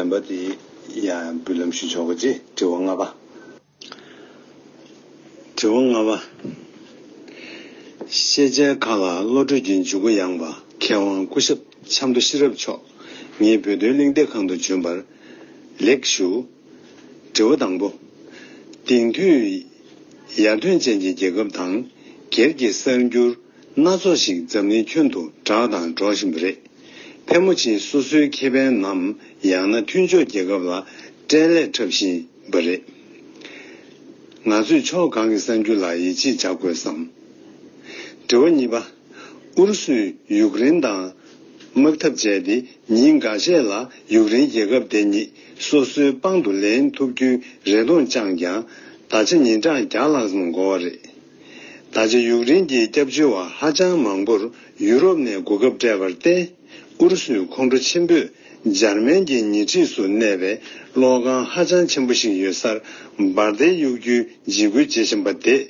ནང་པ་དེ་ཡང་འབུལ་ལམ་ཞུ་ཆོག་གོ་ཅེས་དྲི་བ་ལྔ་པ། དྲི་བ་ལྔ་པ། ཤེས་བྱའི་མཁའ་ལ་བློ་གྲོས་ཀྱི་འཇུག་སྒོ་ཡངས་པ་མཁས་དབང་སྐུ་ཞབས་ཆབ་མདོ་ཤེས་རབ་མཆོག་ངེད་བོད་དོན་གླེང་སྟེགས་ཁང་དུ་བྱོན་པར་ལེགས་ཞུ། དྲི་བ་དང་པོ། དེང་དུས་ཡར་ཐོན་ཅན་གྱི་རྒྱལ་ཁབ་དང་སྒེར་གྱི་གསར་འགྱུར། སྣ་ཚོགས་ཤིག་འཛམ་གླིང་ཁྱོན་དུ་གྲགས་དང་སྒྲོག་བཞིན་པ་རེད། ཕལ་མོ་ཆེའི་སོ་སོའི་ཁེ་ཕན་ནམ་ཡང་ན་མཐུན་ཕྱོགས་རྒྱལ་ཁབ་ལ་སྐྲན་ལས་འཁྲབ་བཞིན་པ་རེད། ང་ཚོས་ཕྱོགས་གང་གི་གསར་འགྱུར་ལ་ཡིད་ཆེས་བྱ་དགོས་སམ། དྲི་བ་གཉིས་པ། ཨུ་རུ་སུས་ཡུག་རེན་དང་དམག་འཐབ་བྱས་ཏེ་ཉིན་འགའ་ཤས་ལ་ཡུག་རེན་རྒྱལ་ཁབ་དེ་ཉིད་སོ་སོའི་པང་དུ་ལེན་ཐུབ་རྒྱུའི་རེ་སྟོང་བཅངས་ཀྱང་ད་ཆ་ཉིན་གྲངས་བརྒྱ་ལྷག་ཙམ་འགོར་བ་རེད། ད་ཆ་ཡུཀ་རེན་གྱི་སྐྱབས་བཅོལ་བ་ཧ་ཅང་མང་པོར་ཡུ་རོབ་ནས་གོ་སྐབས་སྤྲད་པར་བརྟེན། ཨུ་རུ་སུའི་ཁོང་ཁྲོ་ཆེན་པོས་འཇར་མན་གྱི་ཉེ་འཁྲིས་སུ་གནས་པའི་གློག་ཁང་ཧ་ཅང་ཆེན་པོ་ཞིག་ཡོད་སར་འབར་མདེལ་གཡུག་རྒྱུའི་འཇིགས་སྐུལ་བྱེད་བཞིན་པ་དེས་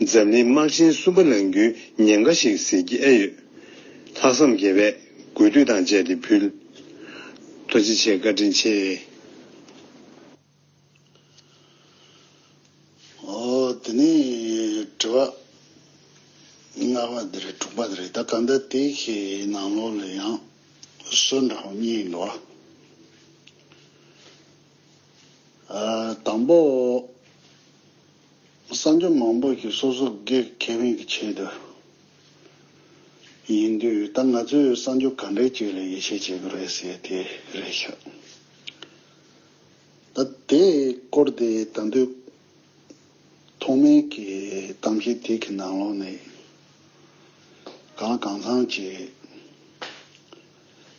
འཛམ་གླིང་དམག་ཆེན་གསུམ་པ་ལང་རྒྱུའི་ཉེན་ཁ་ཞིག་ཟིལ་གྱིས་ཨེ་ཡོད། ལྷག་བསམ་དགེ་བས་གུས་འདུད་དང་བཅས་ཏེ་ཕུལ། ཐུགས་རྗེ་ཆེ་བཀའ་དྲིན་ཆེ། དེ་ནས་དྲི་བ་ལྔ་པ་འདི་རེད་དྲུག་པ་འདི་རེད་ད་གང་ལྟར་དེ་གི་ནང་ལོགས་ལ་ཡང་སྲོལ་འདྲ་བོ་གཉིས་ཡོད། དང་པོ། གསང་སྤྱོད་མང་པོ་ཞིག་སོ་སོ་སྒེར་གྱི་མིང་གི་ཆེད་དུ་ཡིན་དུས་ད་ང་ཚོས་གསང་སྤྱོད་ག་འདྲའི་ཆེད་ལ་ཡིད་ཆེས་བྱེད་དགོས་རེད་ཟེར་དེ་རེད་ཤག། ད་ལྟའི་སྐོར་དེ་ད་འདོད། ཐོག་མའི་གི་གཏམ་བཤད་དེ་གི་ནང་ལོག་ནས། གང་ལ་གང་ཚང་གི་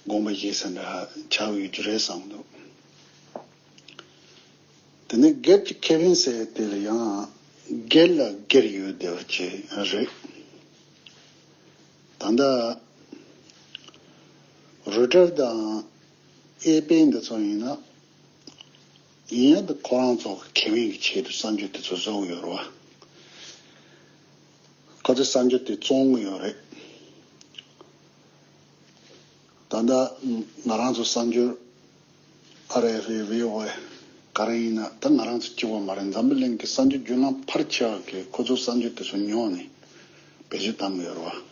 དགོངས་པ་བཞེས་ས་འདྲ་ཆགས་ཡོད་རྒྱུ་རེད་བསམ་འདུག། དེ་ནས་སྒེར་གྱི་ཁེ་ཕན་ཟེར་དེ་ལ་ཡང་སྒེར་ལ་སྒེར་ཡོད་བསྡད་པ་ཅི་རེད། ད་ལྟ། རུ་ཏྲར་དང། ཨེ་པེ་འདི་ཚོ་ཡིན་ནམ། ཡིན་ཡང་འདི་ཁོ་རང་ཚོ་གི་ཁེ་དབེན་གི་ཆེད་དུ་བསམ་སྦྱོར་དེ་ཚོ་བཟོ་གི་ཡོད་རེད་བ། ཁོ་ཚོས་བསམ་སྦྱོར་དེ་བཙོང་གི་ཡོད་རེད། ད་ལྟ་ང་རང་ཚོ་བསམ་སྦྱོར་ཨ་རེ་ཧྥེ་བྷི་ཝེ་ག་རེ་ཡིན་ན་ད་ང་རང་ཚོ་སྐྱིད་པོ་མ་རེད་འཛམ་བུ་གླིང་གི་བསམ་སྦྱོར་རྒྱུ་ལམ་ཕར་ཆེ་བ་གིས་ཁོ་ཚོ་བསམ་སྦྱོར་དེ་ཚོ་ཉོག་ནས་བེད་སྤྱོད་བཏང་གི་ཡོད་རེད་བ།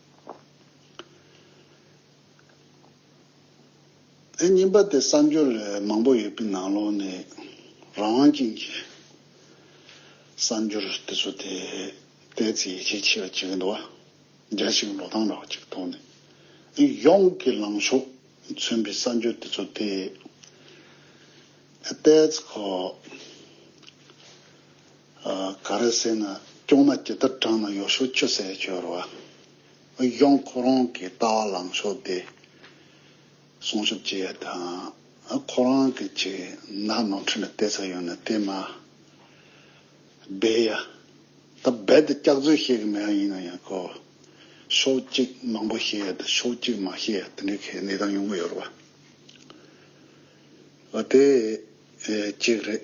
ཨེ་རྙིང་པ་དེ་གསར་འབྱོར་ལས་མང་པོ་ཡོད་པའི་ནང་ལོགས་ནས་རང་དབང་ཅན་གྱི་གསར་འབྱོར་དེ་ཚོ་དེ་དེའི་ཚེ་ཡིད་ཆེས་ཆེ་བ་ཅིག་འདུག་བ་རྒྱ་ཞིག་འགྲོ་སྟངས་འདྲ་བ་ཅིག་འདུག་ནས་ཨེ་ཡོངས་ཀྱི་ལངས་ཕྱོགས་མཚོན་པའི་གསར་འབྱོར་དེ་ཚོ་དེ་ཨེ་སྟེ་ཚེ་ཁོ། ག་རེ་ཟེར་ན་སྐྱོང་ན་ཇི་ལྟར་དྲངས་ན་ཡོ་ཤོ་ཆུ་ཟད་སྦྱོར་བ་གཡོག་ཁོ་རང་གི་ལྟ་བ་ལངས་ཕྱོགས་དེ་སྲུང་ཤུབས་ཅི་ཡོད་དང་ཁོ་རང་གི་ཅིག་ནག་ནོར་འཁྲུལ་ལ་བལྟས་ཚར་ཡོད་ན་དེ་མ་སྦས་ཡ། ད་རྦད་དེ་སྐྱག་རྫུན་བཤད་གི་མེད་ཡིན་ན་ཡང་གོ་ཤོག་ཅིག་མང་པོ་བཤད་ཡ་དང་ཤོག་ཅིག་མ་བཤད་ཡ་དེ་འདྲའི་གི་གནས་སྟངས་ཡོང་གི་ཡོད་རེད་བ། དེ་ཅིག་རེད།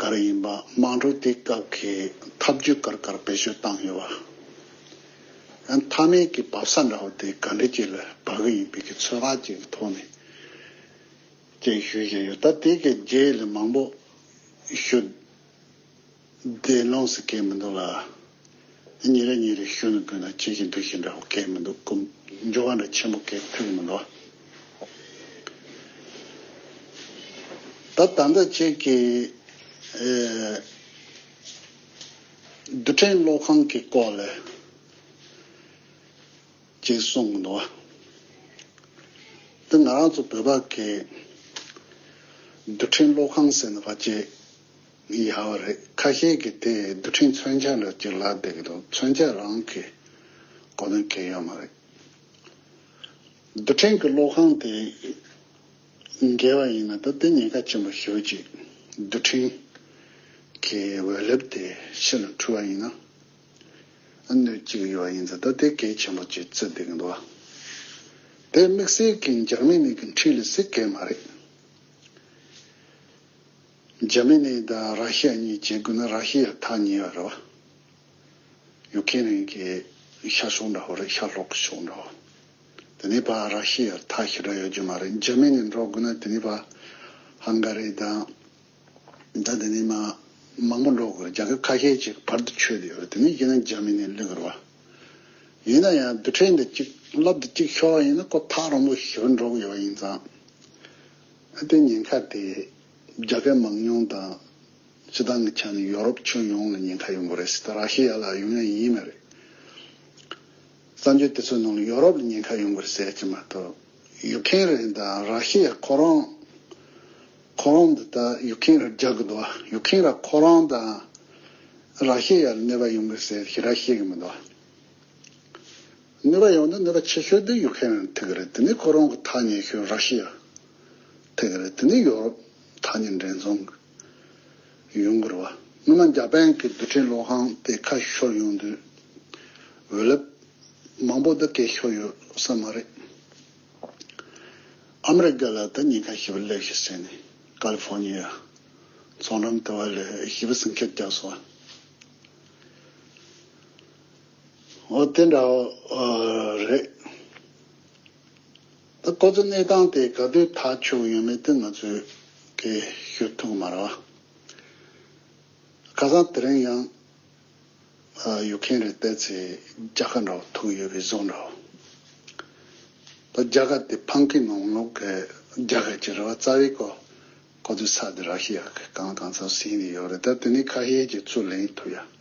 གར་ཡིན་པ་མང་དྲུག་དེ་སྐབས་ཀྱི་འཐབ་ཇུས་གར་གར་བེད་སྤྱོད་བཏང་ཡོད་བ། ཡང་མཐའ་མའི་གི་འབབ་ས་འདྲ་བོ་དེ་ག་འདྲི་གྱི་ལ་བབ་གི་ཡིན་པའི་གི་ཚོད་དཔག་ཅིག་གི་ཐོག་ནས་ཅིག་ཞུ་བཞིན་ཡོད་ད་དེ་གི་རྗེས་ལས་མང་པོ་ཞུ་བདེ་ལོངས་སུ་སྐྱེས་མི་འདུག་ལ། ཉིན་རེ་ཉིན་རེ་ཞུ་ནུ་བུས་ན་ཁྱེད་ཀྱི་འདུ་ཤེས་འདྲ་བོ་སྐྱེས་མི་འདུག་གམ་འགྱུར་བ་འདྲ་ཆེན་པོ་སྐྱེས་ཐུབ་ཀྱི་མི་འདུག་ཨ། ད་ད་ལྟ་ཁྱེད་ཀྱིས་རྡུལ་ཕྲན་གློག་ཁང་གི་སྐོར་ལས་ཅིག་གསུངས་གི་འདུག་འདི་ང་རང་ཚོ་བོད་པ་གིས་རྡུལ་ཕྲན་གློག་ཁང་ཟེར་ནི་བ་ཅིག་མི་ཡག་བ་རེད་ཁ་ཤས་ཀྱི་དེ་རྡུལ་ཕྲན་མཚོན་ཆ་ལ་ཅིག་ལབ་བསྡད་ཀྱི་འདུག་མཚོན་ཆ་རང་གི་མགོ་ན་གས་ཡོད་མ་རེད། རྡུལ་ཕྲན་གྱི་གློག་ཁང་དེ་འགེལ་བ་ཡིན་ན་ད་དེ་ཉེན་ཁ་ཆེན་པོ་ཞུ་ཅིག་རྡུལ་ཕྲན་གྱི་འོད་ལེབ་དེ་ཕྱི་ལ་འཕྲུལ་བ་ཡིན་ན་གནོད་ཅིག་ཡོད་ཡིན་ཟེར་ད་དེ་གས་ཆེན་པོ་ཅིག་རྩི་བསྡད་ཀྱི་འདུག་བ་དེ་དམིགས་བསལ་གྱི་འཇག་མི་ནས་ཀྱི་འཁྲིད་ལ་སི་གས་མ་རེད། འཇར་མན་ནི་དང་ར་ཤི་ཡ་གཉིས་བྱེད་དགོས་ན་ར་ཤི་ཡ་ཐག་ཉེ་བ་རེད་བ། ཡུག་ཁེ་རིན་གྱི་ཤར་ཕྱོགས་འདྲ་བོ་རེད་ཤར་ལྷོག་ཕྱོགས་འདྲ་བོ། དེ་ནི་བ་ར་ཤི་ཡར་ཐག་ཤི་དྲག་ཡོད་རྒྱུ་མ་རེད་འཇར་མན་ནི་འགྲོ་དགོས་ན་དེ་ནི་བ་ཧང་ག་རི་དང་དང་དེ་ནི་མ་མང་པོ་འགྲོ་དགོས་རེད་རྒྱ་ཁབ་ཁ་ཤས་ཅིག་བར་དུ་ཆོད་དེ་ཡོད་རེད་དེ་ནི་ཡིན་ན་འཇར་མན་ནི་ལེགས་རེད་བ། ཡིན་ན་ཡང་བདུད་ཕྲན་འདི་གཅིག་རླབས་འདི་གཅིག་ཤོར་བ་ཡིན་ན་ཁོ་ཐག་རིང་པོ་ཞི་བར་འགྲོ་གི་ཡོད་པ་ཡིན་ཙང། ཨ་སྟོན་ཉེན་ཁ་དེ་རྒྱ་སྐད་མང་མྱོང་དང་སྤྱི་བཏང་གི་ཆ་ནས་ཡོ་རོབ་ཁྱོན་ཡོངས་ལ་ཉེན་ཁ་ཡོང་གི་རེད་སྲིད་དང་ར་ཤི་ཡ་ལ་ཡོང་ཡ་ཡིན་ནི་རེད། བཙན་བྱོལ་དེ་ཚོའི་ནང་ལ་ཡོ་རོབ་ལ་ཉེན་ཁ་ཡོང་གི་རེད་ཟེར་གྱི་མ་གཏོགས་ཡུག་ཁེན་རེ་དང་ར་ཤི་ཡ་ཁོ་རང་ཁོ་རང་འདི་ལྟར་ཡུག་ཁེན་རེར་རྒྱག་གི་འདུག་བ་ཡུག་ཁེན་ར་ཁོ་རང་དང་ར་ཤི་ཡ་ལ་གནོད་པ་ཡོང་གི་རེད་ཟེར་གི་ར་ཤི་ཡ་གི་མི་འདུག་བ། ནུས་པ་ཡོང་དུས་ནུས་པ་ཆེ་ཤོས་དེ་ཡུག་ཁན་ཐི་གི་རེད་དེ་ནི་ཁོ་རང་གི་ཐག་ཉེ་ཤོས་ར་ཤི་ཡ་ཐི་གི་རེད་དེ་ནི་ཡོ་རོབ་ཐག་ཉེ་འདྲེན་ཚོང་གི་ཡུང་གུར་བ་སྔོན་མ་འཇའ་པན་གི་རྡུལ་ཕྲན་གློག་ཁང་དེ་ཁ་ཤོར་ཡོང་དུས་འོད་རླབས་མང་པོ་འདི་གས་ཤོར་ཡོད་ས་མ་རེད། ཨ་མི་རི་ཀ་ལ་ད་ཉེན་ཁ་ཞི་བ་སླེབས་ཤིག་ཟེར་ནས་ཀ་ལི་ཕོར་ཉི་ཡ་ཚོང་འགྲམ་དེ་བ་ལས་ཞི་བ་ཟིང་ཁེར་རྒྱག་སོང་བ། འོ་དེ་འདྲ་བོ་རེད། ད་ཁོ་ཚོའི་གནས་སྟངས་དེ་ག་དུས་ཐག་ཆོད་ཡོད་མེད་དེ་ང་ཚོས་ཀྱིས་ཤོད་ཐུབ་གི་མ་རེད། ཁ་སང་དེ་རིང་ཡང་ཡུག་གྷན་རེད་བལྟས་ཚེ་རྒྱ་ཁ་འདྲ་བོ་ཐུག་ཡོད་པའི་བཟོ་འདྲ་བོ། ད་རྒྱ་ཁ་དེ་ཕང་ཁི་ནོང་ལུག་གི་རྒྱ་ཁ་ཅིག་རེད་བ་རྩ་བའི་ཁོ་ཚོའི་ཚགས་དེ་ར་ཤི་ཡ་གི་གང་གང་ཚང་ཟིན་ནས་ཡོད་རེད་ད་དེ་ནས་ཁ་ཤས་ཀྱིས་ཚུར་ལེན་ཐུབ་ཡ།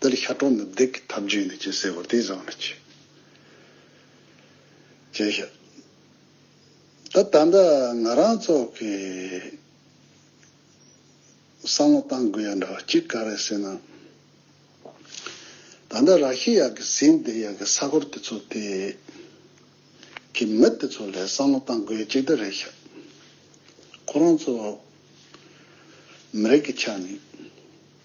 འདིར་ཤ་ཁྲག་ནི་བདུད་ཀྱི་ཐབས་བྱུས་ནས་ཅི་བསད་བར་དེ་བཟང་ལ་བྱས། བྱས་ཤ། ད་ད་ལྟ་ང་རང་ཚོགས་ཀྱི་བསམ་བློ་གཏང་དགོས་ཡ་འདྲ་བ་གཅིག་ག་རེ་ཟེར་ན། ད་ལྟ་ར་ཤི་ཡ་གི་ཟིན་བདེ་ཡ་གི་ས་གོར་དེ་ཚོ་དེ་གི་མི་དེ་ཚོ་ལས་བསམ་བློ་གཏང་དགོས་ཡ་གཅིག་འདི་རེད་ཤ། ཁོ་རང་ཚོ་མི་རིགས་ཀྱི་ཆ་ནས།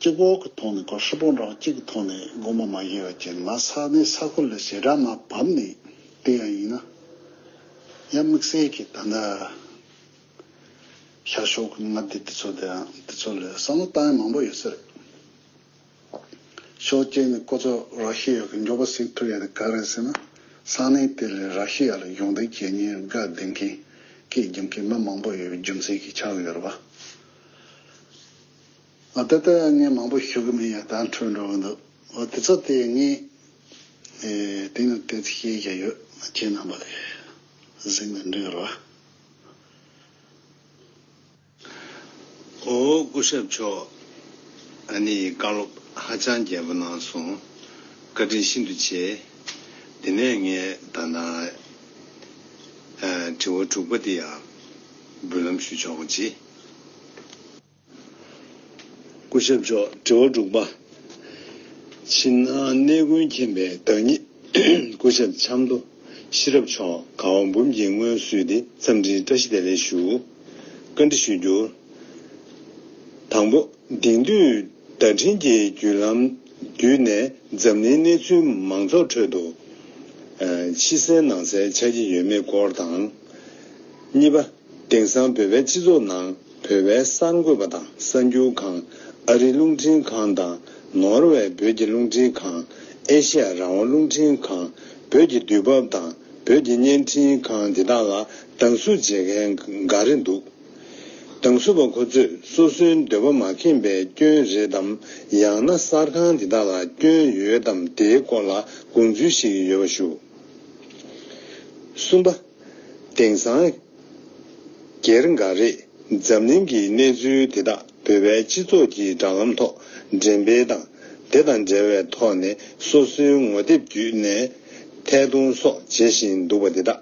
གཅིག་འོག་གི་ཐོག་ནས་སྒོར་ཧྲིལ་པོ་རང་གཅིག་གི་ཐོག་ནས་སྒོར་མོ་མ་བཞེས་བ་བྱས་ན་ང་ས་གནས་ས་ཁུལ་ལ་ཞེ་དྲག་མ་བབས་ནས་དེ་ཡང་ཡིན་ན་ཡ་དམིགས་བསལ་གྱིས་ད་ལྟ་ཤར་ཕྱོགས་ཀྱི་མངའ་སྡེ་འདི་ཚོ་དང་འདི་ཚོ་ལས་བསམ་བློ་བཏང་ཡ་མང་པོ་ཡོད་ས་རེད། ཤོག་ཅེས་ནས་ཁོ་ཚོ་རག་ཤི་ཡ་གི་མགྱོགས་པོ་གཟིགས་ཐུབ་ཡ་དེ་ག་རེད་ཟེར་ན་ས་གནས་དེ་ལས་རག་ཤི་ཡ་ལ་སྦྱོང་བརྡར་བྱེད་ཉེར་དགའ་ལྡན་མཁན་སྐད་སྦྱོང་མཁན་མི་མང་པོ་ཡོད་པའི་རྒྱུ་མཚན་གྱིས་ཆགས་ཡོད་རེད་པ། ཨ་ད་ལྟ་ངས་མང་པོ་ཞུ་གི་མིན་ཡང་དག་འཕྲོད་འགྲོ་གི་འདུག་འོ་དེ་ཚོ་དེ་ངས་དེང་དང་དེ་ཚོ་ཤེས་ཀྱི་ཡོད་ཁྱེད་རྣམ་པ་ལས་གཟིགས་ནས་འབྲི་གི་རོགས། ཨོ་སྐུ་ཞབས་མཆོག་ཨ་ནི་བཀའ་སློབ་ཧ་ཅང་རྒྱས་པོ་གནང་སོང་བཀའ་དྲིན་ཤིན་ཏུ་ཆེ། དེ་ནས་ངས་ད་ནང་དྲི་བ་དྲུག་པ་དེ་ཡང་འབུལ་ལམ་ཞུ་ཆོག་གོ་ཅི། སྐུ་ཞབས་མཆོག་དྲི་བ་དྲུག་པ། ཕྱི་ནང་གནས་ཀུན་མཁྱེན་པའི་བདག་ཉིད་སྐུ་ཞབས་ཆབ་མདོ་ཤེས་རབ་མཆོག་གང་བ་འབུམ་གྱིས་སྔོན་བསུས་ཏེ་འཚམས་འདྲིའི་བཀྲ་ཤིས་བདེ་ལེགས་ཞུ། བཀའ་འདྲི་ཞུ་རྒྱུར། དང་པོ། དེང་དུས། བརྡ་འཕྲིན་གྱི་བརྒྱུད་ལམ་བརྒྱུད་ནས་འཛམ་གླིང་གནས་ཚུལ་མང་ཚོགས་ཁྲོད་དུ་ཕྱི་གསལ་ནང་གསལ་ཆགས་ཀྱི་ཡོད་མེད་སྐོར་དང། གཉིས་པ། དེང་སང་བོད་པའི་སྤྱི་ཚོགས་ནང་བོད་པའི་གསར་འགོད་པ་དང་གསར་འགྱུར་ཁང་ཨ་རི་རླུང་འཕྲིན་ཁང་དང་ནོར་ཝེ་བོད་ཀྱི་རླུང་འཕྲིན་ཁང་ཨེ་ཤ་ཡ་རང་དབང་རླུང་འཕྲིན་ཁང་བོད་ཀྱི་དུས་བབ་དང་བོད་ཀྱི་བརྙན་འཕྲིན་ཁང་འདི་དག་ལ་སྡང་ཟུག་བྱེད་མཁན་འགའ་རེ་འདུག། གདང་སུ་པ་ཁོ་ཚོས་སོ་སོའི་འདོད་པ་མ་ཁེངས་པའི་སྐྱོན་རེད་དམ་ཡང་ན་གསར་ཁང་འདི་དག་ལ་སྐྱོན་ཡོད་དམ་དེའི་སྐོར་ལ་དགོངས་ཚུལ་ཞིག་ཡོད་པ་ཞུ། གསུམ་པ། དེང་སང། སྒེར་འགའ་རེས་འཛམ་གླིང་གི་གནས་ཚུལ་དེ་དག་བོད་པའི་སྤྱི་ཚོགས་ཀྱི་སྦྲག་ལམ་ཐོག་འགྲེམས་སྤེལ་དང། དེ་དང་འབྲེལ་བའི་ཐོག་ནས་སོ་སོའི་ངོ་དེབ་བརྒྱུད་ནས་ཐད་གཏོང་སོགས་བྱེད་བཞིན་འདུག་པ་འདི་དག་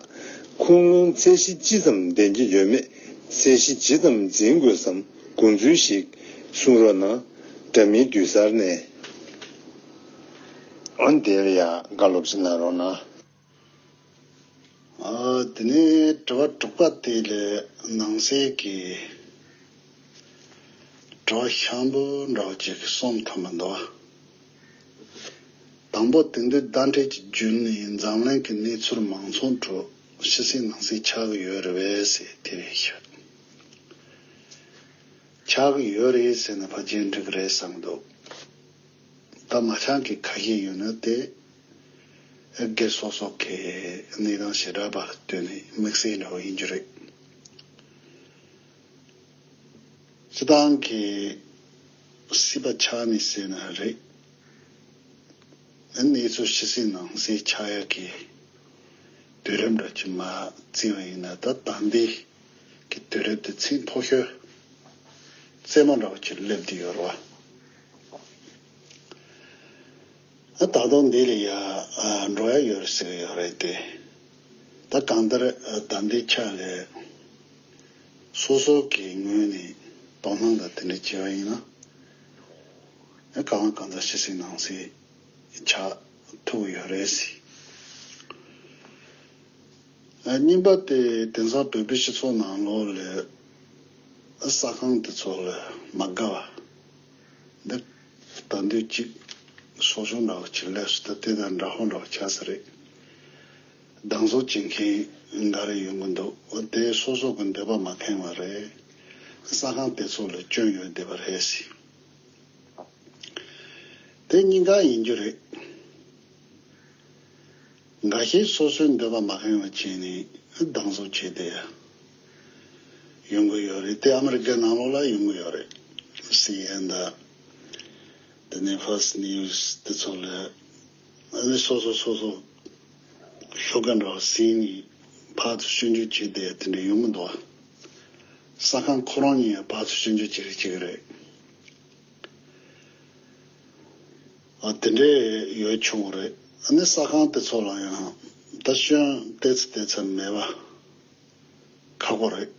ཁུངས་ལུང་ཚད་གཞི་ཅི་ཙམ་ལྡན་གྱི་ཡོད་མེད་གསལ་གཞི་ཇི་ཙམ་འཛིན་དགོས་སམ་དགོངས་ཚུལ་ཞིག་གསུང་རོགས་གནང། དྲ་མིན་བསྡུས་གསར་ནས། འོན་ཏེ་ཡག་དགའ་སློབ་ཅིག་གནང་རོགས་གནང། དེ་ནས་དྲི་བ་དྲུག་པ་དེ་ལ་ནང་གསེས་ཀྱི་དྲི་བ་ཤམ་བུ་འདྲ་བ་གཅིག་གིས་སོམས་ཐོན་པར་འདོད། དང་པོ་དེང་དུས་བརྡ་འཕྲིན་གྱི་རྒྱུན་ནི་འཛམ་གླིང་གི་གནས་ཚུལ་མང་ཚོགས་ཁྲོད་ཕྱི་གསལ་ནང་གསལ་ཆགས་ཀྱི་ཡོད་རེད་བས་ཟེར་དེ་རེད་ཤག། ཆགས་ཀྱི་ཡོད་རེད་ཟེར་ན་ཕ་རྒྱལ་འགྲིག་རེད་བསམ་འདུག་ད་མ་ཆགས་མཁན་ཁ་ཤས་ཡོད་ན་དེ་སྒེར་སོ་སོ་གའི་གནས་སྟངས་ཞེ་དྲག་པར་ལྟོས་ནས་དམིགས་བསལ་འདྲ་བོ་ཡིན་རྒྱུ་རེད། སྤྱི་བཏང་གི་སྲིད་པ་ཆགས་ནས་བསད་ན་རེད། གནས་ཚུལ་ཕྱི་སྲིད་ནང་སྲིད་ཆགས་ཡག་གི་དུས་རབས་འདྲ་གཅིག་མ་བརྩི་བ་ཡིན་ན་ད་ལྟ་འདི་གི་དུས་རབས་དེ་ཚིག་མཐོ་ཤོས་རྩེད་མོ་འདྲ་བོ་གཅིག་སླེབས་འདི་ཡོད་རེད་བ། ད་དུང་འདི་ལ་ཡང་འགྲོ་ཡ་ཡོད་ཟེར་གི་ཡོད་རེད་དེ། ད་གང་ལྟར་ཟླ་འདིའི་ཕྱག་ལས་སོ་སོ་གི་ངོས་ནས་དོ་སྣང་དང་དེ་འདྲ་བྱས་པ་ཡིན་ན། གང་ལ་གང་འཚམ་བྱེད་སྲིད་གནང་སྲིད་ཆ་ཐུག་གི་ཡོད་རེད་ཟེར། རྙིང་པ་དེ་དེང་སང་བོད་པའི་སྤྱི་ཚོགས་ནང་ལོག་ལེ་ཟ་ཁང་དེ་ཚོ་ལ་མ་དགའ་བ། ཟླ་འདི་གཅིག་སོ་གཞོན་རག་ལ་བྱིན་ལས་སུ་ད་དེ་དང་འདྲ་ཧོན་རག་བྱ་ས་རེད། སྡང་ཟོག་བྱེད་མཁན་འགའ་རེ་ཡོང་གི་འདུག་དེ་སོ་སོག་གི་འདོད་པ་མ་ཁེངས་བ་རེད། ས་ཁང་དེ་ཚོ་ལ་སྐྱོན་ཡོད་བསྡད་པ་རེད་སྲིད། དེ་གཉིས་ཀ་ཡིན་རྒྱུ་རེད། འགའ་ཤས་སོ་སོའི་འདོད་པ་མ་ཁེངས་བ་བྱས་ནས་སྡང་ཟོག་བྱས་བསྡད་ཡ། ཡོང་གི་ཡོད་རེད་དེ་ཨ་མི་རི་ཀའི་ནང་ལོགས་ལ་ཡོང་གི་ཡོད་རེད། སི་ཨེན་ཨེན་དང། དེ་ནས་ཧྥགས་ནིའུ་ཟ་དེ་ཚོ་ལས། ཨ་ནི་སོ་སོ་སོ་སོ། ཤོད་མཁན་འདྲ་བ་སི་ཨེན་གྱིས་ཕག་ཚོ་སྤྱོད་འཇུག་བྱས་ཏེ་དེ་འདྲ་ཡོང་གི་འདུག་ཨ། ས་ཁང་ཁོ་རང་གཉིས་ཡང་ཕག་ཚོ་སྤྱོད་འཇུག་བྱེད་རེ་བྱེད་ཀྱི་རེད། ཨ་དེ་འདྲས་ཡོད་བྱུང་བ་རེད། ཨ་ནི་ས་ཁང་དེ་ཚོ་ལ་ཡང་ད་ཤོན་ལྟས་ཚེ་ལྟས་ཚེ་མེད་པ། ཁག་པོ་རེད།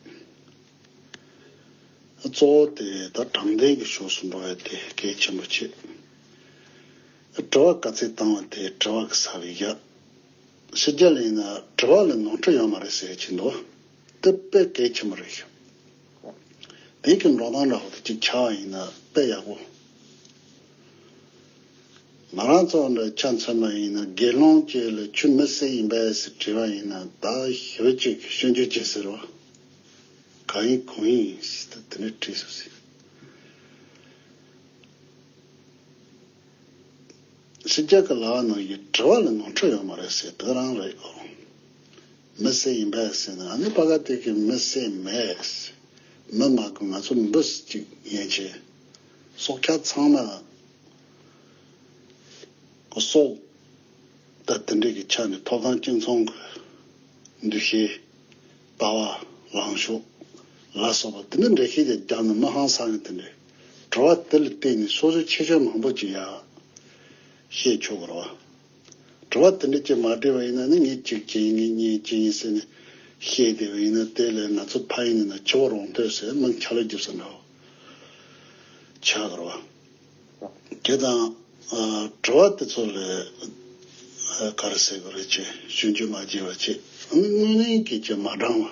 གཙོ་བོ་དེ་ད་དྲང་བདེན་གྱི་ཕྱོགས་སུ་འགྲོ་བའི་དེ་གལ་ཆེན་པོ་ཆེ། དྲི་བ་ག་ཚད་བཏང་བ་དེ་དྲི་བ་གི་ས་བི་རྒྱ། ཕྱི་རྒྱ་ལ་ཡིན་ན་དྲི་བ་ལ་ནོར་འཁྲུལ་ཡོད་མ་རེད་ཟེར་གྱིན་འདུག་དེ་དཔེ་གལ་ཆེན་པོ་རེད། བོད་ཀྱི་འགྲོ་སྟངས་འདྲ་བོ་དེ་གཅིག་ཆགས་བ་ཡིན་ན་དཔེ་ཡག་པོ། ང་རང་ཚོ་འདྲ་ཆ་མཚོན་པ་ཡིན་ན་དགེ་སློང་བཅས་ལ་ཆུ་མི་བསད་ཡིན་པས་ཟེར་དྲི་བ་ཡིན་ན་ད་ཞོད་ཅིག་ཤོད་རྒྱུ་ཅི་ཟེར་བ། ག་ཡིན་གང་ཡིན་ཞེས་ད་དེ་འདྲའི་དྲི་ཟུར་ཟེར། ཕྱི་རྒྱལ་གྱི་ལྭ་བ་རྣམས་ཀྱི་དྲི་བ་ལ་ནོར་འཁྲུལ་ཡོད་མ་རེད་ཟེར་དེ་རང་རེད། མི་སེར་ཡིན་པས་ཟེར་ན་ཨ་ནི་པ་ག་ཏིག་གི་མི་སེར་མེད། མི་མ་དགོས་ང་ཚོ་འབུ་སྲིད་ཅིག་ཡན་ཆད། སྲོག་ཆགས་ཚང་མ། གོ་སོག། དང་དེ་འདྲས་ཀྱི་ཆ་ནས་མཐོ་སྒང་སྤྱི་མཚུངས་ཀྱི། འདུ་ཤེས། ལྟ་བ། ལངས་ཕྱོགས། ལ་སོགས་པ་དེ་འདྲ་འདྲ་ཤེས་ཀྱང་རྒྱང་ནས་མི་ཧང་སང་ཡང་དེ་འདྲའི། བྲོ་བ་དེ་ལ་བརྟེན་ནས་སོ་སོའི་ཁྱད་ཆོས་མང་པོ་ཅིག་ཡང། ཤེས་ཆོག་གི་རེད། དྲི་བ་དེ་འདྲ་ཅིག་མ་དྲིས་པ་ཡིན་ན་ནི་ངས་གཅིག་བྱས་ཡིན་ངས་གཉིས་བྱས་ཡིན་ཟེར་ནས་བཤད་བསྡད་པ་ཡིན་ན་དེ་ལས་ང་ཚོ་ཕ་ཡིན་ནས་ན་འཆི་བར་འོང་ཐོས་ཟེར་སྣང་ཆ་ལ་རྒྱུ་ས་འདྲ་བོ་བྱ་དགོས་རོ། དེ་དང། དྲི་བ་དེ་ཚོ་ལས་ག་རེ་ཟེར་དགོས་རེད་ཅེས་ཞུ་འཇུས་མ་བྱས་པ་ཅིག་ནི་དངོས་གླིང་གི་ཅེས་མ་བགྲང་བ།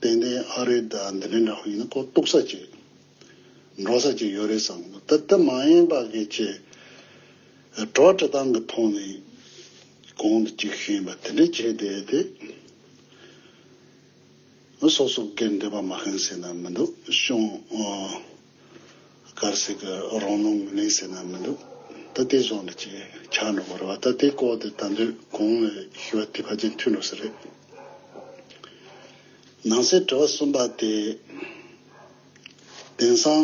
ཏན་ཏན་ཨ་རེ་ད་འདི་འདྲའི་འདྲ་བོ་ཡིན་ན་ཁོ་གཏུག་ས་ཅིག་འགྲོ་ས་ཅིག་ཡོད་རེད་བསམ་གོ་ད་ད་མ་ཡེངས་པ་གི་ཅེས་གྲོགས་བཀྲ་ཐང་གི་ཐོག་ནས་གོང་དུ་ཅིག་ཤེས་པ་དེ་འདྲས་བྱས་བསྡད་དེ། སོ་སོ་སྒེར་འབྲེལ་པ་མ་ཤེས་ཟེར་ན་མི་འདུག་ཤོང། གར་སིག་གི་རང་སྣང་གླེང་སེ་ན་མི་འདུག་ད་ལྟའི་བཟོ་འདི་ཅིག་ཆགས་འགྲོ་གི་རེད་བ་ད་ལྟའི་སྐོར་དེ་ད་འདོད་གང་ལ་ཞུ་བ་དེ་ཕ་རྗེས་མཐུན་འགྲོ་ས་རེད། ནང་སའི་དྲི་བ་གསུམ་པ་དེ། དེང་སང་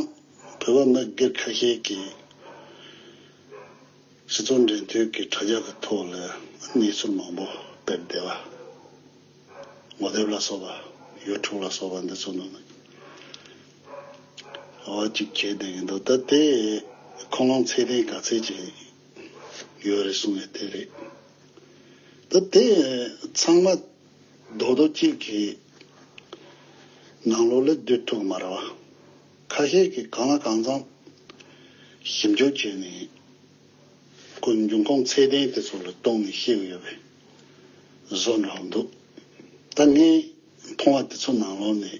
བོད་པ་མི་སྒེར་ཁ་ཤས་ཀྱིས་སྤྱི་ཚོགས་འབྲེལ་མཐུད་ཀྱི་དྲ་རྒྱ་གི་ཐོག་ལ་གནས་ཚུལ་མང་པོ་སྤེལ་བདེ་བ། ངོ་དེབ་ལ་སོགས་པ། ཡོལ་དྲུག་ལ་སོགས་པ་འདི་ཚོ་ནང་ནས་ཀྱང། འོ་ཅིག་བྱས་བསྡད་ཀྱི་འདུག་ད་དེ་ཁོང་ལོངས་ཚད་ལྡན་ག་ཚད་ཅིག་ཡོད་རེད་གསུངས་ནས་དེ་རེད། ད་དེ་ཚང་མ་རྡོག་རྡོག་གཅིག་གི་ནང་ལོགས་ལས་སྡོད་ཐུབ་མ་རེད་བ། ཁ་ཤས་ཀྱིས་གང་ལ་གང་འཚམས་ཞིབ་འཇུག་བྱས་ནས། ཁོའི་འབྱུང་ཁུངས་ཚད་ལྡན་དེ་ཚོ་ལ་གཏོང་ནས་ཤི་ཡོད་པའི་བཟོ་འདྲ་བོ་འདུག་ད་ངས་མཐོང་བ་དེ་ཚོ་ནང་ལོགས་ནས་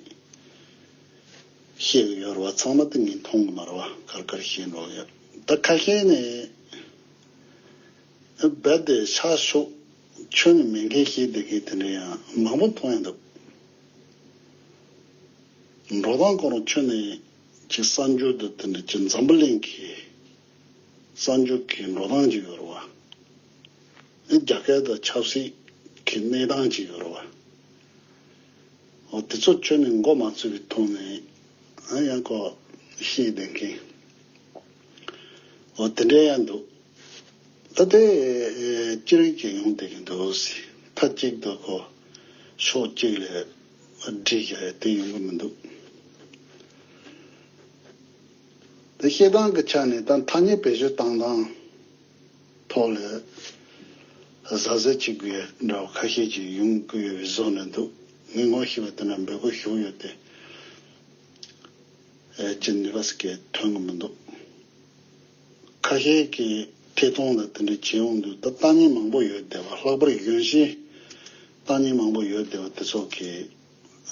ཤི་གི་ཡོད་རེད་བ་ཚང་མ་ད་ངས་མཐོང་གི་མ་རེད་བ་གར་གར་བཞིན་འགྲོ་གི་ཡོད་ད་ཁ་ཤས་ནས་རྦད་དེ་ཆགས་ཤོག་ཁྱོད་ནི་མེད་མཁན་ཤེས་བསྡད་མཁན་དེ་འདྲ་ཡང་མང་པོ་མཐོང་ཡ་འདུག་འགྲོ་སྟངས་སྐོར་ཁྱོད་ནས་ཅིག་གསར་འགྱུར་དུ་དེ་འདྲ་ཅི་འཛམ་པོ་གླེང་གི། གསར་འགྱུར་གྱི་འགྲོ་སྟངས་ཀྱི་ཡོལ་བ། རྒྱ་སྐད་དང་ཆབ་སྲིད་ཀྱི་གནས་སྟངས་ཀྱི་ཡོལ་བ། འོ་དེ་ཚོ་ཁྱོད་ནས་མགོ་མ་ཚོས་པའི་ཐོག་ནས་ཨང་ཡང་ཀོ་ཤེས་བསྡད་མཁན། འོ་དེ་འདྲ་ཡང་འདུག་ད་ལྟའི་ཅི་རིགས་ཀྱི་ཡོང་བསྡད་ཀྱི་འདུག་མཐའ་གཅིག་ཏུ་ཀོ་ཕྱོགས་གཅིག་ལས་བསྒྲིགས་ཀྱི་རེད་དེ་ཡོང་གི་མི་འདུག། དེ་ཤེས་སྟངས་ཀྱི་ཆ་ནས་ད་ཐ་སྙད་བེད་སྤྱོད་བཏང་སྟངས་ཐོག་ལ་གཟབ་གཟབ་བྱེད་དགོས་ཡ་འདྲ་བ་ཁ་ཤས་ཀྱིས་ཡོང་དགོས་ཡོད་པའི་བཟོ་ནས་འདུག་མི་ངོ་ཤེས་པ་དེ་འདྲ་འབོད་དགོས་ཞུགས་ཡོད་དེ། ཅི་ནུས་པ་ཟེར་གྱི་ཐོན་གྱི་མི་འདུག་ཁ་ཤས་ཀྱིས་ཐད་གཏོང་ལ་དེ་འདྲ་བྱས་འོང་དུས་ད་ལྟ་ཉན་མང་པོ་ཡོད་བསྡད་པ་ལྷག་པར་གཞོན་ཤིང་ལྟ་ཉན་མང་པོ་ཡོད་བསྡད་པ་དེ་ཚོ་གིས་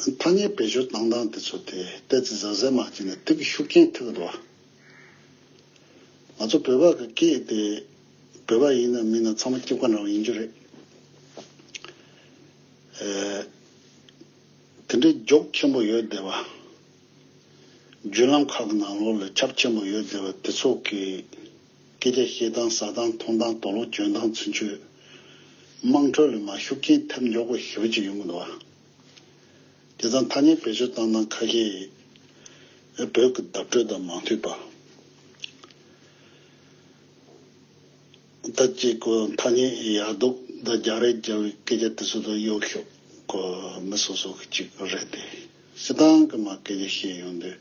ཐ་སྙད་བེད་སྤྱོད་གཏང་སྟངས་དེ་ཚོ་དེ་ལྟས་ཙི་ཟ་ཟེར་མ་གྱིས་ནས་དེབ་ཀྱི་ཤུགས་རྐྱེན་ཐེབས་འགྲོ། ང་ཚོ་བོད་པ་གི་སྐད་དེ་བོད་པ་ཡིན་ནམ་མིན་ནམ་ཚང་མ་སྐྱིབས་ཀ་འདྲ་བོ་ཡིན་རྒྱུ་རེད། དེ་འདྲའི་རྒྱོགས་ཆེན་པོ་ཡོད་བསྡད་པ། བརྒྱུད་ལམ་ཁག་གི་ནང་ལོགས་ལས་ཁྱབ་ཆེན་པོ་ཡོད་བསྡད་པ་དེ་ཚོ་གི། སྐད་ཆ་བཤད་སྟངས་ཟ་སྟངས་འཐུང་སྟངས་དོགས་སློང་འཇོན་སྟངས་ཚུན་ཆོད། དམངས་ཁྲོད་ལ་མ་ཞུགས་རྐྱེན་ཐེབས་མགྱོགས་པ་ཞི་བ་ཅིག་ཡོང་གི་འདུག་ཨ། དེ་ཚང་ཐ་སྙད་བེད་སྤྱོད་བཏང་སྟངས་ཁ་ཤས་ཡིན། ཨེ་བོད་ཀྱི་བརྡ་སྤྲོད་དང་མ་མཐུན་པ། ཟླ་གཅིག་གོ་ཐ་སྙད་ཡག་འདུག་ཟླ་བརྒྱ་རེ་བརྒྱབ་བའི་སྐད་ཆ་དེ་ཚོ་དང་གཡོག་ཤོག་གོ་མི་སོ་སོ་གི་གཅིག་རེད་དེ། སྲིད་ཏང་གི་མ་སྐད་ཆ་བཤད་ཡོང་དུས་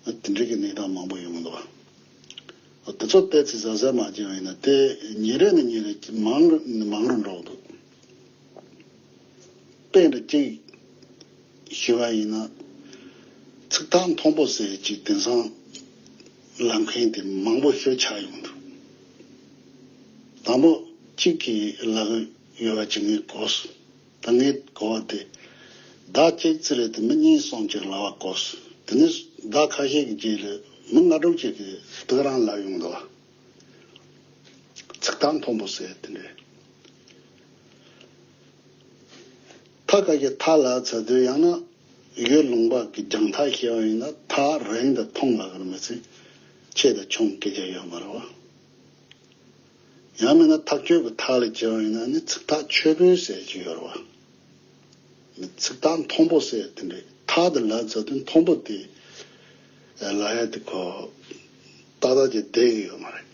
ཨ་དེ་འདྲིའི་གི་གནས་སྟངས་མང་པོ་ཡོང་གི་འདུག་ཨ། ཚོ་སྤེལ་ཚེ་ཟ་ཟས་མ་བྱིན་བ་ཡིན་ན་དེ་ཉིན་རེ་ནས་ཉིན་རེ་མང་རུ་མང་རུ་འགྲོ་གི་འདུག་དཔེ་འདྲ་གཅིག་ཞུ་བ་ཡིན་ན། ཚིག་ཐག་མཐོང་པོ་ཟེར་གཅིག་དེང་སང་ལབ་མཁན་དེ་མང་པོ་ཤོས་ཆགས་ཡོང་གི་འདུག་དང་པོ་གཅིག་གིས་ལབ་གི་ཡོད་པ་ཇི་སྙེད་གོ། ད་ངས་གོ་བ་དེ། བདག་གཅིག་ཚེ་རེ་དེ་མི་གཉིས་སོང་ཅིག་ལ་བ་གོ། དེ་ནས་བདག་ཁ་ཤས་ཀྱི་རྗེས་ལས་མི་ལྔ་དྲུག་ཅིག་གིས་བདག་རང་ལ་ཡོང་དུ་བ། ཚིག་ཐག་མཐོན་པོ་ཟེར་དེ་འདྲའི། ཐག་ཁ་ཤས་ཐག་ལ་ཚ་དུས་ཡང་ན་ཡོས་ལུང་པ་གི་རྒྱང་ཐག་ཤེས་བ་ཡིན་ན་ཐག་རིང་དུ་མཐོང་ལ་གར་མི་ཚེ་ཆེད་དུ་ཆོང་སྐད་ཆ་ཡོད་མ་རེད་བ། ཡང་མིན་ན་ཐག་གཅོད་ཀྱི་ཐག་ལས་བཅད་བ་ཡིན་ན་ནི་ཚིག་ཐག་ཆོད་པོའི་ཟེར་གྱི་ཡོད་རེད་བ། མི་ཚིག་ཐག་མཐོང་པོ་ཟེར་དེ་འདྲའི་ཐག་དེ་ལ་ཟེར་དུས་མཐོང་པོ་དེ་ལ་ཡ་དེ་ཁོ་ཏག་ཏག་ཅིག་བསྡད་གི་ཡོད་མ་རེད།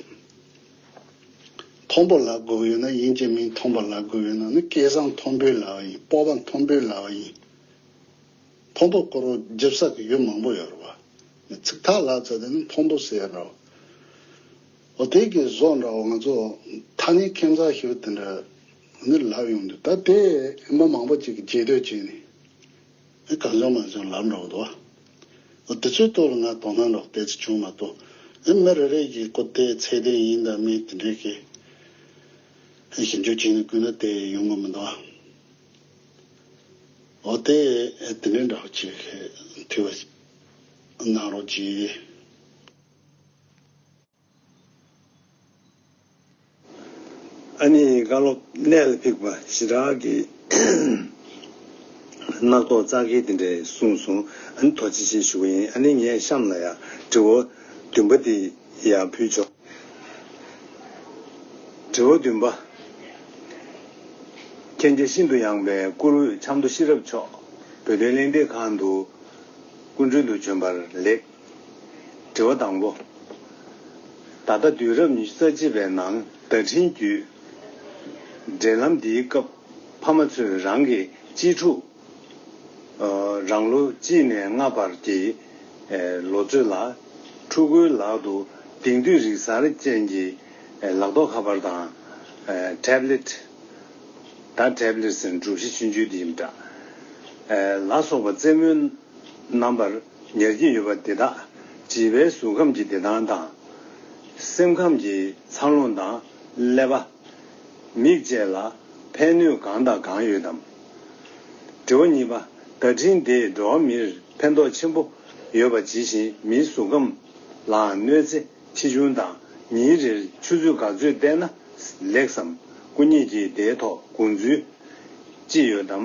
མཐོང་པོ་ལ་དགོས་ཡོད་ན་ཡིན་གྱི་མིན་མཐོང་པོ་ལ་དགོས་ཡོད་ན་ནི་སྐལ་བཟང་མཐོང་པོའི་ལ་བ་ཡིན་སྤོབས་པ་མཐོང་པོའི་ལ་བ་ཡིན། མཐོང་པོ་བསྐོར་བ་འཇིབ་ས་གི་ཡུལ་མང་པོ་ཡོད་རེད་བ། མི་ཚིག་ཐག་ལ་ཟེར་དེ་ནི་མཐོང་པོ་ཟེར་རོ། ཨོ་དེ་གི་བཟོ་འདྲ་བོ་ང་ཚོ་ཐ་ནི་ཁེན་ཚ་ཞོ་དེ་འདྲ་ནི་ལབ་ཡོང་འདུག་ད་དེ་མི་མང་པོ་ཅིག་གི་རྗེས་ཟློས་བྱས་ནས་ཨེ་གང་བྱུང་མ་བྱུང་ལབ་འགྲོ་གི་འདུག་ཨོ་དེ་ཚོའི་ཐོག་ལ་ང་དོ་སྣང་རོགས་དེ་ཚོ་བྱུང་མ་ཐུབ་ཨེ་མི་རེ་རེ་གི་ཀོ་དེ་ཚད་ལྡན་ཡིན་དང་མིན་དེ་འདྲའི་གི་ཞིབ་འཇུག་བྱས་ནས་བསྐུལ་ན་དེ་ཡོང་གི་མི་འདུག་ཨོ་དེ་དེ་འདྲ་འདྲ་བོ་ཅིག་གི་དུས་བ་གནང་རོགས་གྱིས། ཨ་ནེའི་བཀའ་སློབ་གནད་ལ་འཕིགས་པ་ཞི་དྲག་གིས་རྣག་ཐོག་གཙག་འཁེལ་དེ་འདྲས་གསུངས་སོང་ཨ་ནེ་དོ་ཅི་བྱེད་ཞུ་བ་ཡིན་ཨ་ནེ་ངས་གཤམ་ལ་ཡང་དྲི་བ་བདུན་པ་དེ་ཡང་ཕུལ་ཆོག་དྲི་བ་བདུན་པ། མཁྱེན་རྒྱ་ཤིན་ཏུ་ཡངས་པའི་བཀུར་འོས་ཆབ་མདོ་ཤེས་རབ་མཆོག་བོད་དོན་གླེང་སྟེགས་ཁང་དུ་སྐུ་མགྲོན་དུ་བྱོན་པར་ལེགས། དྲི་བ་དང་པོ། ད་ལྟ་དུས་རབས་ཉི་ཤུ་རྩ་གཅིག་པའི་ནང་བརྡ་འཕྲིན་བརྒྱུད། འབྲེལ་ལམ་འདིའི་སྐབས་ཕ་མ་ཚོས་རང་གི་གཅེས་ཕྲུག། རང་ལོ་གཅིག་ནས་ལྔ་བར་གྱི་ལོ་ཚོད་ལ་ཕྲུ་གུའི་ལག་ཏུ་དེང་དུས་རིག་གསར་ཅན་གྱི་ལག་ཐོགས་ཁ་པར་དང། Tablet། ད Tablets ནི་གྲུ་བཞི་ཆུང་ཆུང་དེ་ཡིན་པ་འདྲ། ལ་སོགས་པ་རྩེད་མོའི་རྣམ་པར། ཉར་གྱི་ཡོད་པ་དེ་དག་བྱིས་པའི་གཟུགས་ཁམས་ཀྱི་བདེ་ཐང་དང། སེམས་ཁམས་ཀྱི་འཚར་ལོངས་དང་ཀླད་པ། མིག་བཅས་ལ་ཕན་ནུས་གང་དང་གང་ཡོད་དམ། དྲི་བ་གཉིས་པ། བརྡ་འཕྲིན་དེས་འགྲོ་བ་མིར་ཕན་ཐོགས་ཆེན་པོ་ཡོད་པ་ཇི་བཞིན་མིའི་གཟུགས་ཁམས་ལའང་གནོད་འཚེ་ཆེ་ཆུང་དང་ཉིན་རེར་ཆུ་ཚོད་ག་ཚོད་བལྟས་ན་ལེགས་སམ། སྐུ་ཉིད་ཀྱིས་དེའི་ཐོག་དགོངས་ཚུལ་ཅི་ཡོད་དམ།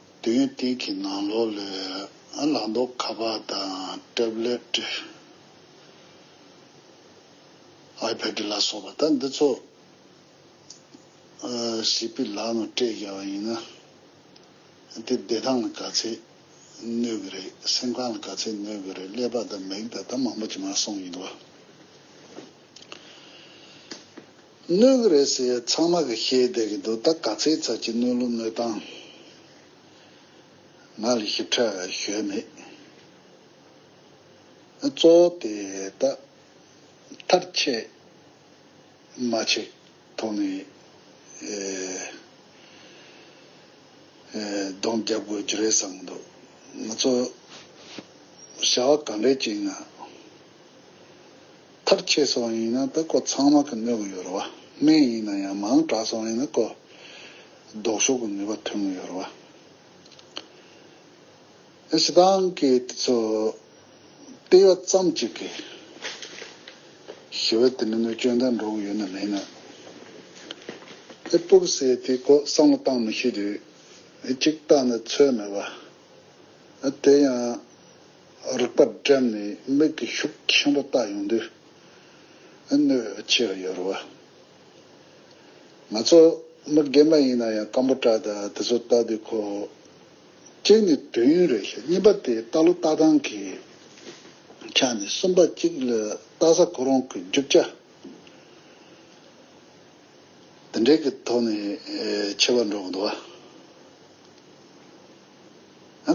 མདུན་སྟེགས་ཀྱི་ནང་ལོགས་ལས་ལག་མདོག་ཁ་པར་དང་ཏེབ་ལེད། iPad། ལ་སོགས་པ་དག་འདི་ཚོ་ཞིག་པི་ལག་ནང་སྤྲད་རྒྱག་པ་ཡིན་ན། དེ་བདེ་ཐང་ལ་ག་ཚད་གནོད་གི་རེད་སེམས་ཁམས་ལ་ག་ཚད་གནོད་གི་རེད་ཀླད་པ་དང་མིག་དང་ད་མང་པོ་ཅི་མ་སོང་ཡིན་ལ། གནོད་གི་རེད་ཟེར་ཡས་ཚང་མ་གི་ཤེས་བསྡད་གི་འདུག་ད་ག་ཚེ་ཚར་གཅིག་གནོད་ལུགས་གནོད་སྟངས་ང་ལ་ཞིབ་ཕྲ་ཞོལ་མེད་གཙོ་བོ་དེ་ད་མཐར་ཆད་མ་ཆད་ཐོག་ནས་གདོང་བརྒྱབ་དགོས་ཀྱི་རེད་བསམ་གི་འདུག་ང་ཚོ་བྱ་བ་ག་འདྲའི་བྱེད་ན། ཐག་ཆད་སོང་བ་ཡིན་ན་ད་ཀོ་ཚང་མ་གི་གནོད་གི་ཡོད་རེད་བ་སྨན་ཡིན་ན་ཡང་མང་དྲག་སོང་བ་ཡིན་ན་ཀོ་ལྡོག་ཤོག་གི་ནུས་པ་ཐོན་གི་ཡོད་རེད་བ། ཨེ་ཞེ་སྡང་གི་དེ་ཚོ་སྤེལ་བ་ཙམ་གྱིས་གི་ཞི་བ་དེ་ནི་གནོད་སྐྱོན་དང་འགྲོ་གི་ཡོད་ན་མེད་ན་ཨེ་སྤུ་གི་སེ་དེ་ཀོ་བསམ་བློ་བཏང་མི་ཤེས་དུས་ཨེ་གཅིག་བཏང་ན་ཚོད་མེད་བ་ཨེ་དེ་ཡང། རིག་པ་བསྒྲལ་ནས་མིག་གི་ཤུགས་ཆེན་པོ་བལྟ་ཡོང་དུས་གནོད་ཆེར་ཡོད་རེད་བ། ང་ཚོ་མི་རྒན་པ་ཡིན་ན་ཡང་སྐམ་པོ་བཀྲ་ད་དེ་ཚོ་བལྟ་དུས་ཁོ། གཅིག་ནི་དུས་ཡུན་རེད་ཤག་གཉིས་པ་དེ་བལྟ་ལོ་བལྟ་སྟངས་ཀྱི་ཆ་ནས་གསུམ་པ་གཅིག་ལ་བལྟ་ས་ཁོ་རང་གི་རྒྱུ་ཆ་དེ་འདྲའི་གི་ཐོག་ནས་ཆེ་བ་འགྲོ་གི་འདུག་བ།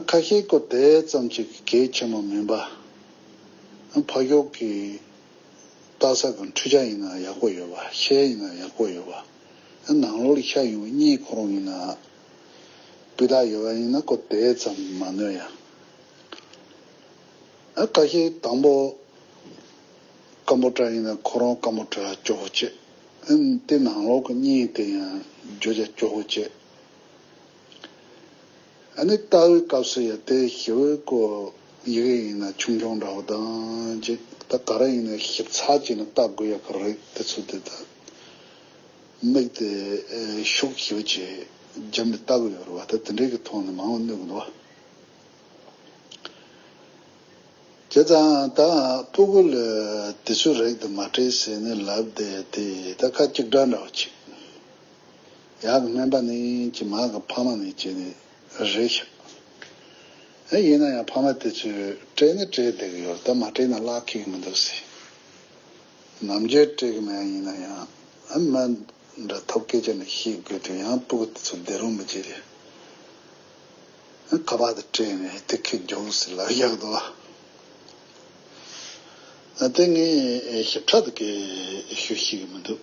ཁ་ཤས་ཀོ་དེ་ཙམ་གཅིག་གལ་ཆེན་མོ་མིན་པ། ཕག་གཡོག་གི་རྟ་ཟ་གི་འཕྲུལ་ཆ་ཡིན་ན་ཡག་པོ་ཡོད་པ་ཤེལ་ཡིན་ན་ཡག་པོ་ཡོད་པ། ནང་ལོགས་ཤ་ཡིན་གཉིས་ཁོ་རང་ཡིན་ན་སྤུས་དག་ཡོད་པ་ཡིན་ན་ཀོ་དེ་ཙམ་མ་གནོད་ཡ། ཁ་ཤས་དང་པོ་སྐམ་པོ་ཏྲ་ཡིན་ན་ཁོ་རང་སྐམ་པོ་ཏྲ་སྐྱོ་བོ་བྱེད་དེ་ནང་ལོགས་གཉིས་དེ་ཡང་རྒྱུ་ཆ་སྐྱོ་བོ་བྱེད། ཨ་ནི་ལྟ་བའི་སྐབས་སུ་ཡང་དེ་ཞི་བའི་སྐུ། ཡི་གེ་ཡིན་ན་ཆུང་ཆུང་འདྲ་བོ་དང་གཅིག་ད་ག་རེ་ཡིན་ན་ཞིབ་ཚགས་བྱས་ནས་བལྟ་དགོས་ཡག་གི་རེད་དེ་ཚོ་དེ་ལྟར་དམིགས་ཏེ་ཤུགས་ཞིབ་ཅིག་བརྒྱབ་ནས་བལྟ་དགོས་ཡག་རེད་བ་ད་དེ་འདྲའི་གི་ཐོག་ནས་མང་བོ་གནོད་གི་འདུག་བ། བྱས་ཙང་ད་སྤུ་གུ་ལ་དེ་ཚོའི་རེག་དེ་མ་སྤྲད་ཟེར་ནས་ལབ་བསྡད་དེ་ད་ཁ་གཅིག་སྒྲ་འདྲ་བོ་གཅིག། ཡག་གི་སྨན་པ་ནི་ཀྱི་མ་གི་ཕ་མ་ནི་ཀྱི་ནི་རེད་ཤག་ཨེ་ཡིན་ན་ཡང་ཕ་མ་དེ་ཚོས་སྤྲད་ནི་སྤྲད་བསྡད་གི་ཡོད་ད་མ་སྤྲད་ན་བརླག་ཁེག་མི་འདུག་སི་ནམ་རྒྱུན་སྤྲད་གི་མེད་ཡིན་ན་ཡང་སྨན་འདྲ་ཐོབ་སྐད་ཆ་ནི་ཤེས་དགོས་དུས་ཡང་སྤུ་གུ་དེ་ཚོ་བསྡད་རུང་མི་བྱེད་རེད་ཁ་བརྡ་སྤྲད་ནི་སྟེ་ཁེག་རྒྱོག་སི་ལ་ཡག་དུ་བ་དེ་ངས་ཞིབ་ཕྲ་དུ་སྐད་ཤོད་ཤེས་གི་མི་འདུག།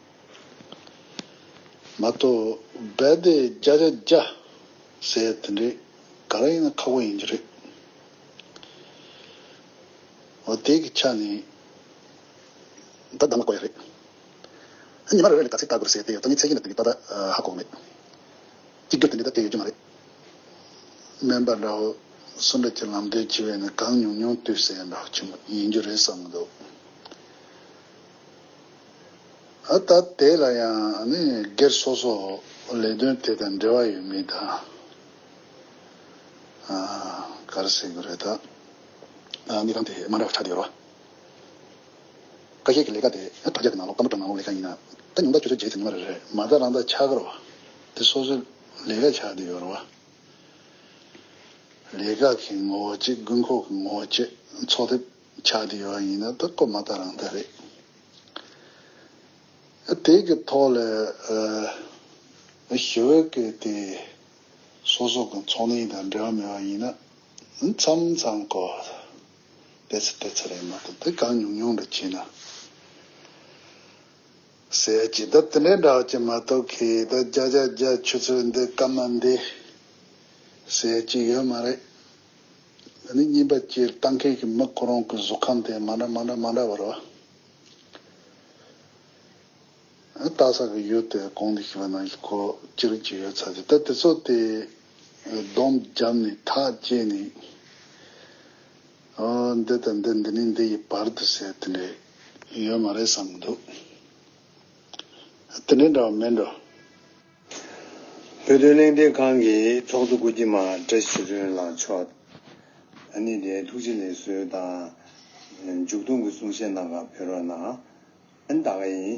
མ་གཏོགས་རྦད་དེ་རྒྱ་རྒྱ་རྒྱ་ཟེར་དེ་འདྲས་ག་རེ་ཡིན་ན་ཁག་པོ་ཡིན་རྒྱུ་རེད། འོ་དེ་གི་ཆ་ནས། ད་གདམ་ལ་གོ་ཡ་རེད། ཨ་ཉི་མ་རེ་རེ་ལས་ག་ཚད་བལྟ་དགོས་རེད་ཟེར་དེ་ཡོད་ད་ནི་ཚད་ཀྱི་ལ་དེ་གི་བལྟ་ད་ཧ་གོ་མེད། གཅིག་གྱུར་དེ་འདྲས་ད་དེ་ཡོད་རྒྱུ་མ་རེད། སྨན་པ་འདྲ་བོ་སུ་འདྲ་ཀྱི་ལམ་སྟོན་བྱེད་པས་ནི་གང་ཉུང་ཉུང་བསྟུད་ཟེར་ཡ་འདྲ་བོ་ཆེན་པོ་ཡིན་རྒྱུ་རེད་བསམ་གི་འདུག། ད་ལྟ་དེ་ལ་ཡང་སྒེར་སོ་སོ་ལས་དོན་དེ་དང་འབྲེལ་བ་ཡོད་མེད་དང། གར་སེ་གུ་རེ་དང། གནས་ཁང་དེ་དམའ་འབྲ་ཆགས་ཀྱི་ཡོད་རོ། ཀ་ཤས་ཀྱི་ལས་ཀ་དེ་ད་རྒྱ་གི་ནང་ལོག་སྐམ་པོ་གྲང་ནང་ལོག་ལས་ཀ་ཡིན། ད་ཉུང་ད་ཆུ་ཚོད་བརྒྱད་ཚེ་ཉི་མ་རེ་རེར་མ་རྩ་རང་ད་ཆགས་ཀྱི་རོ། དེ་སོ་སོའི་ལས་ཀ་ཆགས་ཀྱི་ཡོད་རོ། ལས་ཀ་གི་ངོ་བོ་གཅིག་དགོས་མཁོ་གི་ངོ་བོ་བཅས་ཚོགས་ཐེབས། ཆགས་ཀྱི་ཡོད་ཡིན་ན་ད་སྐོར་མ་ད་རང་ད་རེད། དེ་གི་ཐོག་ལ་ཞི་བའི་སྐད་དེ་སོ་སོ་གི་ཚོགས་གནས་དང་འབྲེལ་བ་མེད་པ་ཡིན་ན་མཚམས་མཚམས་སྐོར་བལྟས་ཚེ་བལྟས་ཚེ་རེད་མ་གཏོགས་དེ་གང་ཉུང་ཉུང་འདྲ་བྱས་ན་ཟེར་ཡ་ཇི་ལྟར་དེ་འདྲའི་འདྲ་བ་ཅིག་མ་གཏོགས་ཁྱེད་ད་རྒྱ་རྒྱ་རྒྱ་ཆུ་ཚོད་འདི་སྐམ་མ་འདི་ཟེར་གྱི་ཡོད་མ་རེད། འདི་ནི་རྙིང་པ་སྤྱིར་བཏང་མཁན་གྱི་མི་ཁོ་རང་གི་གཟུགས་ཁམས་དེ་མ་འདྲ་མ་འདྲ་མ་འདྲ་བར་བརྟག་ས་གི་ཡུལ་དེ་གང་དུ་ཞུགས་པ་ནང་བཞིན་ཁོ་ཅི་རིགས་ཀྱི་ཡོད་ཚད་དེ་ལྟར་དེ་ཚོ་དེ་སྡོམ་བརྒྱབ་ནས་ཐག་བཅད་ནས་ཨོ་འདི་དང་འདི་འདི་ནས་འདི་ཡི་བར་དུ་ཟེར་དེ་འདྲས་ཡོད་མ་རེད་བསམ་གྱི་འདུག་དེ་འདྲས་འདྲ་བ་མེད་འགྲོ། བོད་དོན་གླེང་སྟེགས་ཁང་གི་ཚོགས་གཙོ་སྐུ་སྐྱེ་མ་བཀྲ་ཤིས་རོལ་ལངས་མཆོག་ནི་དེའི་ཐུགས་རྗེ་ལེགས་གསོལ་དང་མཇུག་སྡོམ་གྱི་གསུང་བཤད་གནང་སྐབས་བོད་རོགས་གནང། ད་ག་ཡིན།